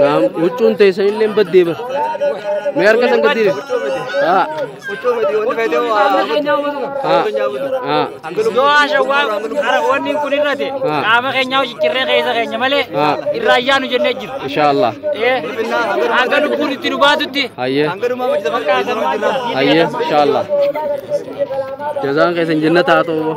Naam, huccuun teessan illee baddee bara. Mee harka san gadi deebi. Haa. Haa. Haa. Yoo haashawwaa harakoonni kun irrate Ah. qaama keenyaa hojjechirree keessa keenya malee Ah. irra ayyaanu jennee jiru. Inshaallah. Eh, Hanga lubbuun itti nu baatutti. Hayyee. Hayyee. Inshaallah. Jazaan keessan jannata haa ta'u.